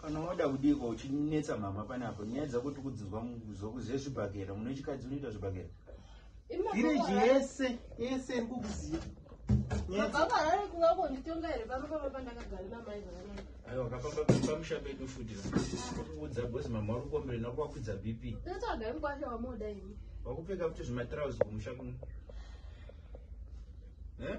kana wada kudiko uchinetsa mama panapo nyaya dzako tikudzizwa zvezvibhakera mune chikadzi unoita zvibhakera village yese yese iri kukuziva aiwa akafamba pamusha pedu futi akuudza bhozi mama uri kuombere nako wakwidza bp wakupfeka futi zvimatrauzi kumusha kuno eh?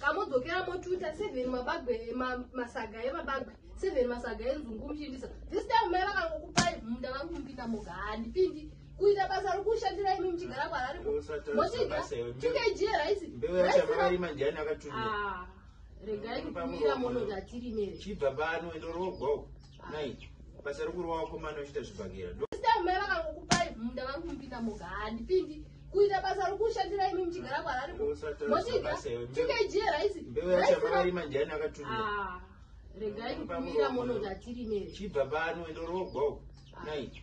kamodzokera motuta seven mabagwe masaga emabagwe seven masaga enzungu muchiitisa this time mai vakangokupai munda vari kumupinda moga handipindi kuita basa rokushandira imi muchigara kwarari mochidya tukg raisi regai kutumira monoda tirimere chibva pano endorogwa Mai, basa rokurova wakomana uchiita zvibhakera. Sita mai vakangokupai munda vari kumupinda moga handipindi kuita basa rokushandira imi muchigara kwarari mochidya tukg raisi mbeuyachavarima ndiani akatumira ah, regai kutumira monoda tirimere chibva pano endorogwa uku nai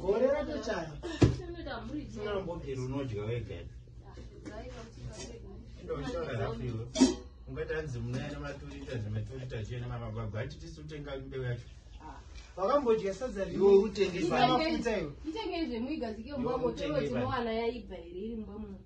gore ratochaya sinambobviri unodya wega ndoshora hafu iwe ungati hanzi munaene maturita zvematurita chene mamagwagwa ati tisi utenga mbeu yacho wakambodya sadza riwe utengeamafuta iwe